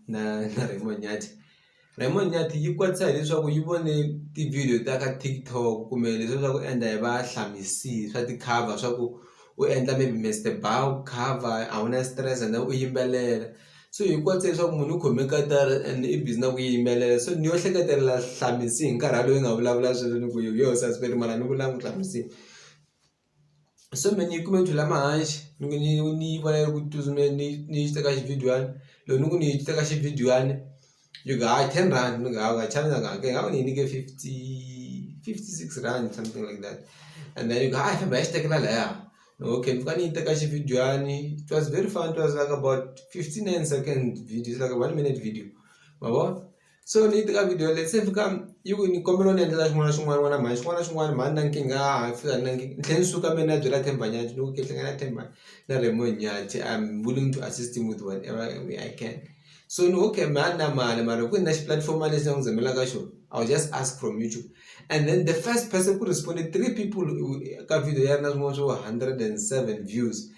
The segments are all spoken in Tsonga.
na na Raymond Nyathi Raymond Nyathi yi kwatisa hileswaku yi vone tivhidiyo ta ka TikTok kumbe leswi swa ku endla hi va swa ti-cover swa ku u endla maybe Mister Bauer cover a wu na stress and then u yimbelela so hi kwatisa leswaku munhu u khome katara and i busy na ku yimbelela so ni yo hleketelela Hlamisi hi nkarhi walowo yi nga vulavula swilo ni ku yo sesi Phiri mara ni vula Hlamisi. so me ni kuma tula ma hanshi ni ni ni bare ku tuzume ni ni ta kashi video an lo ni ku ni ta kashi video an you ga 10 rand ni ga ga channel ga ga ga ni ni ke 50 56 rand something like that and then you ga ha ba esta kala la ya okay fuka ni ta kashi video an it was very fun it was like about 59 second video it's like a 1 minute video baba so ni teka video leyi se fika yi ku ni kombela u ni endlela xin'wana na xin'wana n'wana mhani xin'wana na xin'wana mhani ni na nkingha a ni fika ni na ni tlhela ni suka me ni ya byela Themba Nyathi ni ku ke hlangana na Themba na Raymonde Nyathi I am willing to assist him with whatever way I can so ni okay me a ni na mali mara ku ni na xi-platform lexi ni ku zamelaka xona I will just ask from YouTube and then the first person ku respond three people ka video ya ri na swin'wana swo hundred and seven views.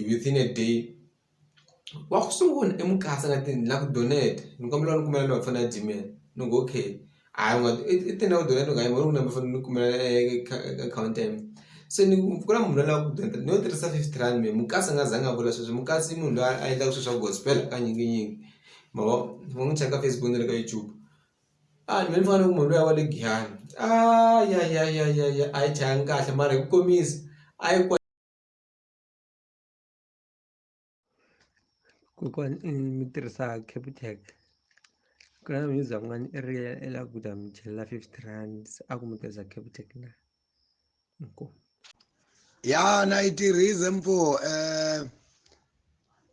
within a day wa ku sungula i mukasa na na ku donate ni kombela u ni kumela number ya foni ya Gmail ni ku okay hayi u nga i i tini na ku donate ni ku hayi mehe u ni number ya foni ni kumela akhawunti ya mina se ni ku ku na munhu la lava ku donate no tirhisa fifty rand mehe mukasi a nga zanga a vula sweswo mukasi i munhu loyi a endlaka swilo swa gospel hakanyikinyingi ma vo ni ngo n'wi cheka ka Facebook na le ka YouTube a mehe ni fana na ku munhu luya wa le Giyani a ya ya ya ya ya a yi chayanga kahle mara hi ku komisa a yi . Kokwani i mi tirhisa Capitec ku na mi za n'wani i ri i la ku ta mi chelela fifty rands a ku mi tirhisa Capitec na inkomu. Ya na yi tirhisa mfo eh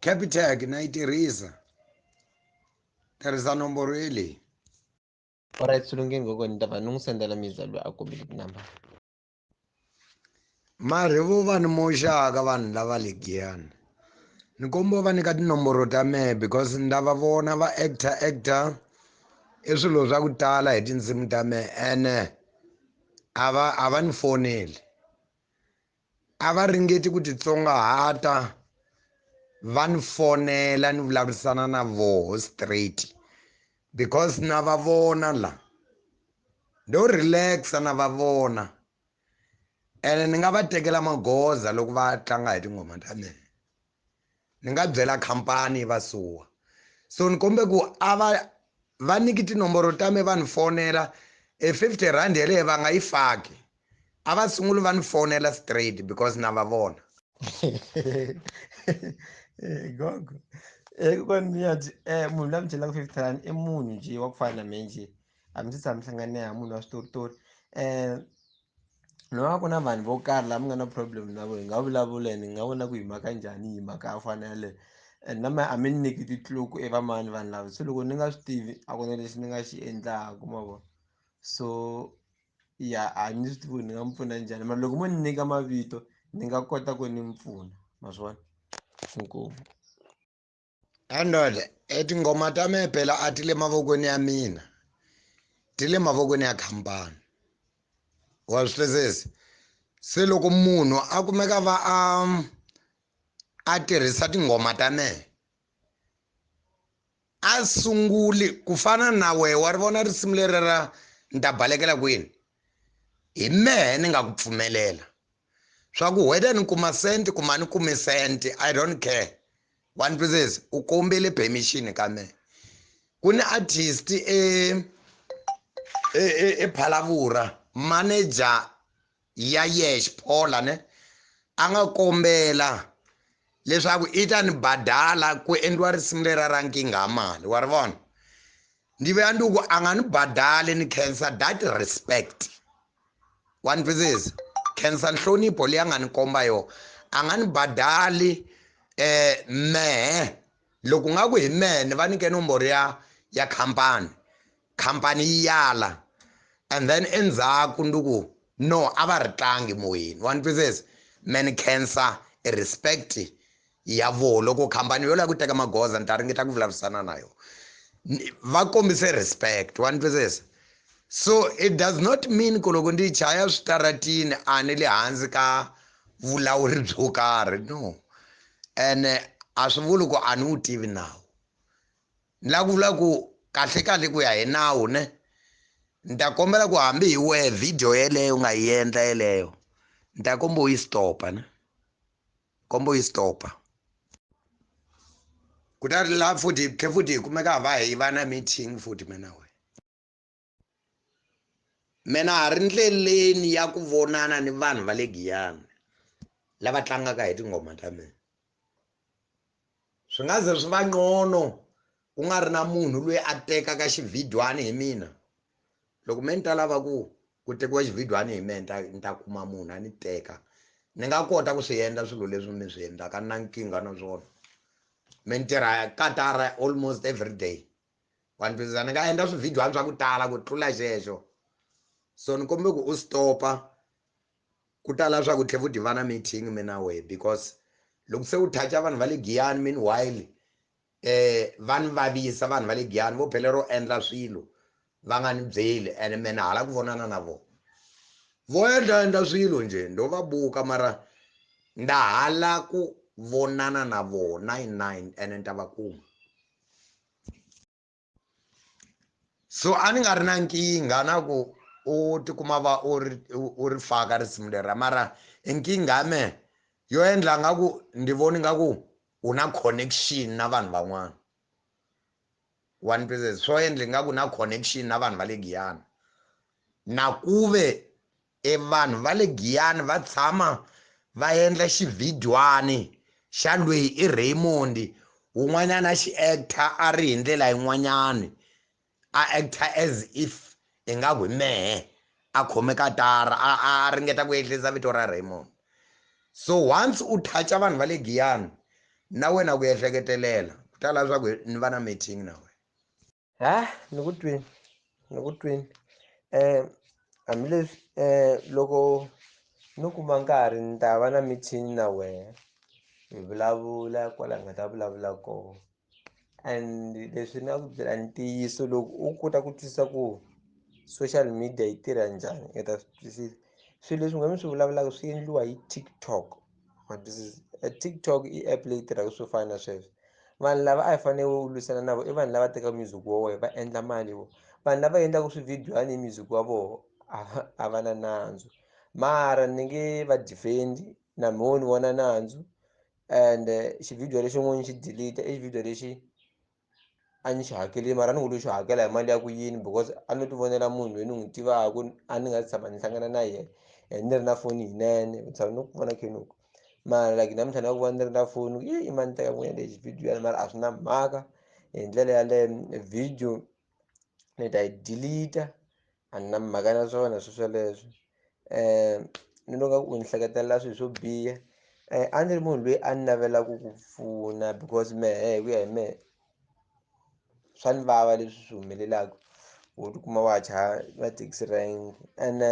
Capitec na yi tirhisa tirhisa nomboro yeleyi. Alright swi lunghini kokwani ni ta va ni n'wi sendela mi za loyi a kombile tinambara. Marhevo va ni moxaka vanhu lava le Giyani ni kombo va nyika tinomboro ta mehe because ni lava vona va actor actor i swilo swa ku tala hi tindzimi ta mehe ene a va a va ni foneli a va ringeti ku titsongahata va ni fonela ni vulavurisana na voho straight because na va vona la ndo relaxa na va vona ene ni nga va tekela magoza loko va tlanga hi tinghoma ta mina ni nga byela khampani yi va suwa so ni kombe ku a va va niki tinomboro ta me va ni fonela e fifty rand yeleyo va nga yi faki a va sunguli va ni fonela straight because na va vona gogo ekukoni mi ya eh, munhu la mi chelaka fifty rand i munhu nje wa ku fana na me nje a mi se tshama mi hlangane ha munhu wa switoritori um no va ku na vanhu vo karhi lava mi nga na problem na vo hi nga vulavula and hi nga vona ku hi maka njhani hi maka ya fana yaleyo and na ma a mi ni nyiki titluku e vamani vanhu lava se loko ni nga swi tivi a ku na lexi ni nga xi endlaku ma vona so ya a ni swi tivi ni nga mi pfuna njhani mara loko mo ni nyika mavito ni nga kota ku ni mi pfuna ma swi vona inkomu andole e tinghoma ta me phela a ti le mavokweni ya mina ti le mavokweni ya khampani wa swi twisisa se loko munhu a kumeka va a a tirhisa tinghoma ta mehe a sunguli ku fana na wehe wa ri vona risimu leri ra ni ta balekela kwini hi mehe ni nga ku pfumelela swa ku whether ni kuma sente kuma ni kume sente i don't care one pieces u kombele permission ka mehe ku ni artist e, e, e, e phalavura manager ya yexe paula ne a nga kombela leswaku i ta ni badala ku endliwa risimu lera ra nkinga ya mali wa ri vona ndi vuya ndi ku a nga ni badali ni cancer that respect wa ni twisisa cancer nhlonipho leyi a nga ni komba yona a nga ni badali eh mehe loko nga ku hi mehe ni va nyike nomboro ya ya khampani khampani yi yala and then endzhaku ndi ku no a va ri tlangi moyeni wa ni twisisa me ni khensa respect ya voho loko khampani yo lava ku teka magoza ni ta ringeta ku vulavurisana na yona va kombise respect wa ni twisisa so it does not mean ku loko ndi chaya switaratini a ni le hansi ka vulawuri byo karhi no ene a swi vuli ku a ni wu tivi nawu Ni la ku vula ku kahle-kahle ku ya hi nawu ne, ni ta kombela ku hambi hi wehe video yeleyo u nga yi endla yeleyo, ni ta komba u yi stop-a ne. Komba u yi stop-a. Kutani la futhi hi tlhe futhi hi kumeka hi va hi va na meeting futhi mina na wena. mina ha ri ndleleni ya ku vonana ni vanhu va le giyani lava tlangaka hi tinghoma ta mina swi nga ze swi va nqono ku nga ri na munhu loyi a tekaka xivhidwani hi mina loko me ni ta lava ku ku tekiwa xivhidwani hi menta ni ta kuma munhu a ni teka ni nga kota ku swi endla swilo leswi mi swi endlaka na nkingha na swona mi ni tirha katara almost every day wa ni twisisa ni nga endla swivhidyuhani swa ku tala ku tlula xexo so ni kombe ku u stopa ku tala swa ku tlhe fu tivana meeting mi na wehe because loko se u thacha vanhu va le giyani meanwhile eh va ni vavisa vanhu va le giyani vo phele ro endla swilo va nga ni byeli ene me ni hala ku vonana na vona vo endla endla swilo nje ndo va buka mara nda hala ku vonana na vona nine ene ni ta va kuma so a ni nga ri na nkingha na ku u tikuma va u ri u ri faka risimu lera mara e nkingha ya mehe yo endla nga ku ndi voni nga ku u na connection na vanhu van'wana one percent swo endla nga ku na connection na vanhu va le giyana na ku ve E vanhu va le Giyani va tshama va endla xivhidywana xa lweyi i Raymond wun'wanyana a xi actor a ri hi ndlela yin'wanyana a actor as if ingaku hi mehe a khome katara a a ringeta ku ehlisa vito ra Raymond so once u touch vanhu va le Giyani na wena ku ehleketelela ku ta lava swa ku ni va na meeting na wena ha ni ku twini ni ku twini hambileswi loko no kuma nkarhi ni ta va na meeting na wehe hi vulavula kwala hi nga ta vulavula koho and leswi ni nga ku byela ntiyiso loko u kota ku twisisa ku social media yi tirha njhani i ta swi twisisa swilo leswi nga mi swi vulavulaka swi endliwa hi TikTok. but this is a tiktok i app leyi tirhaka swo fana na sweswo vanhu lava a hi fanele u lwisana na vona i vanhu lava tekaka music wa wena va endla mali vo vanhu lava endlaka swividyani hi music wa vona a va na nandzu mara ni nge va defendi na mhoni vona nandzu and eh, xivhidiyo lexin'wana xi delete i xivhidiyo lexi a ni xi hakeleli mara ni ngo lo xi hakela hi mali ya ku yini because a no ti vonela munhu loyi ni n'wi tivaka a ni nga si tshama ni hlangana na yena and ni ri na foni yinene ni tshama ni ku vona khenuku mara like namuntlha ni nga ku vona ni ri na foni yi i mani teka n'wina lexi video yana mara a swi na mhaka hi ndlela yaleyo video ni ta yi delete A ni na mhaka na swona swi swoleswo ni loko u ni hleketelela swilo swo biha a ndzi ri munhu loyi a ni navela ku ku pfuna because mehe hi ku ya hi mehe swa ni vava leswi swi humelelaku wo tikuma wa ha chaya na taxi rank ene.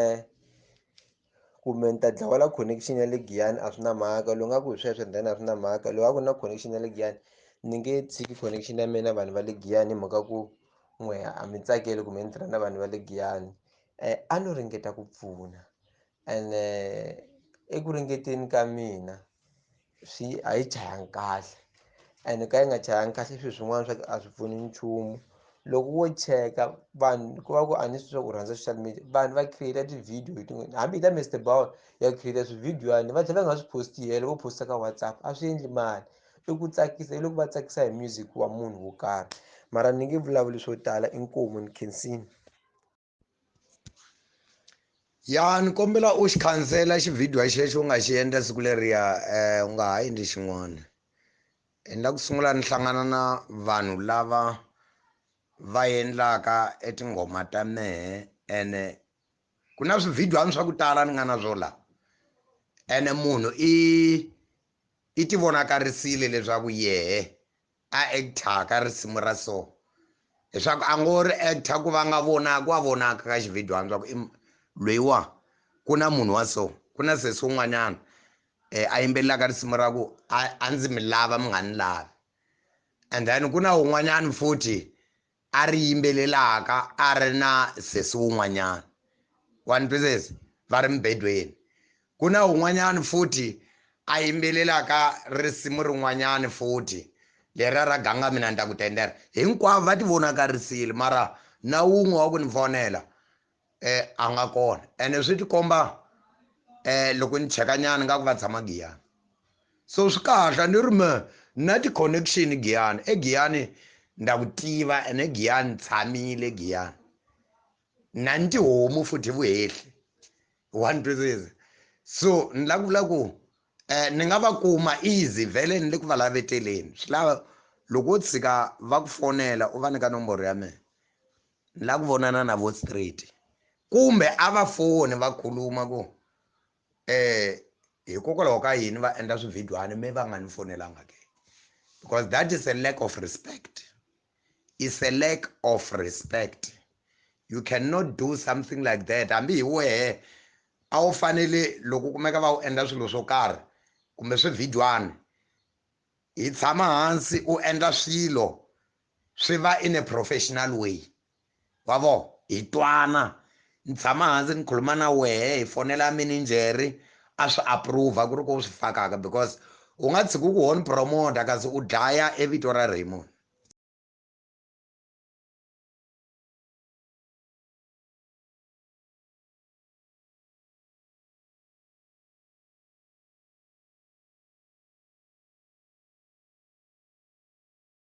kumbe ni ta dlawa la connection ya le giyani a swi na mhaka loyi nga ku hi sweswo then a swi na mhaka loyi a ku na connection ya le giyani ni nge tshiki connection ya mina vanhu va le giyani hi mhaka ku n'we a mi tsakeli kumbe ni tirha na vanhu va le giyani um a no ringeta ku pfuna and eku ringeteni ka mina swi a yi chayanga kahle and ka yi nga chayanga kahle swilo swin'wana swa ku a swi pfuni nchumu loko wo cheka vanhu ku va ku a ni swi swa ku rhandza social media vanhu va create ti-video hi tin'wini hambi yi ta Mister Bowl ya create swividiyoyani va tlhela va nga swi post-i helo vo post-a ka WhatsApp a swi endli mali i ku tsakisa hi loko va tsakisa hi music wa munhu wo karhi mara ni nge vulavuli swo tala inkomu ni khensini. ya ni kombela u xi khansela xivhidiyo xexo u nga xi endla siku leriya um u nga ha endli xin'wana endla ku sungula ni hlangana na vanhu lava va endlaka etinghoma ta mehe ene ku na swivhidyani swa ku tala ni nga na swo laha ene munhu i i ti vonakarisile leswaku yehe a actor ka risimu ra so leswaku a ngo ri actor ku va nga vonaka wa vonaka ka xivhidiyo hansi swaku lweyiwa ku na munhu wa so ku na sesi un'wanyana um a yimbelelaka risimu ra ku a ndzi mi lava mi nga ni lavi and then ku na un'wanyana futhi a ri yimbelelaka a ri na sesi wun'wanyana. Wa ni twisisa? Va ri mubedweni. Ku na wun'wanyana futhi a yimbelelaka risimu rin'wanyana futhi, leriya ra Ganga Mina Ni Ta Ku Tendela. Hinkwavo va tivonakarisile, mara na wun'we wa ku ni fonela, eh a nga kona ene swi tikomba eh loko ni cheka nyana nga ku va tshama giyani so swi kahle ni ri me na ti-connection giyani egiyani nda ku tiva ene giyani tshamile giyani na ni tihomu futhi vuhehli wa ni twisisa so ni la ku vula ku um ni nga va kuma easy vhele ni le ku va laveteleni swi lava loko wo tshika va ku fonela u va nyika nomboro ya mina ni la ku vonana na vo straight kumbe a va foni va khuluma ku eh hikokwalaho ka yini va endla swivhidwana me va nga ni fonelanga ke because that is a lack of respect is a lack of respect you cannot do something like that hambi hi wehe a wu fanele loko u kumeka va wu endla swilo swo karhi kumbe swivhidwana hi tshama hansi u endla swilo swi va in a professional way wa vo hi twana ni tshama hansi ni khuluma na wehe hi fonela mininjeri a swi approve ku ri ku u swi fakaka because u nga tshiki ku honi promoter kasi u dlaya evito ra Raymond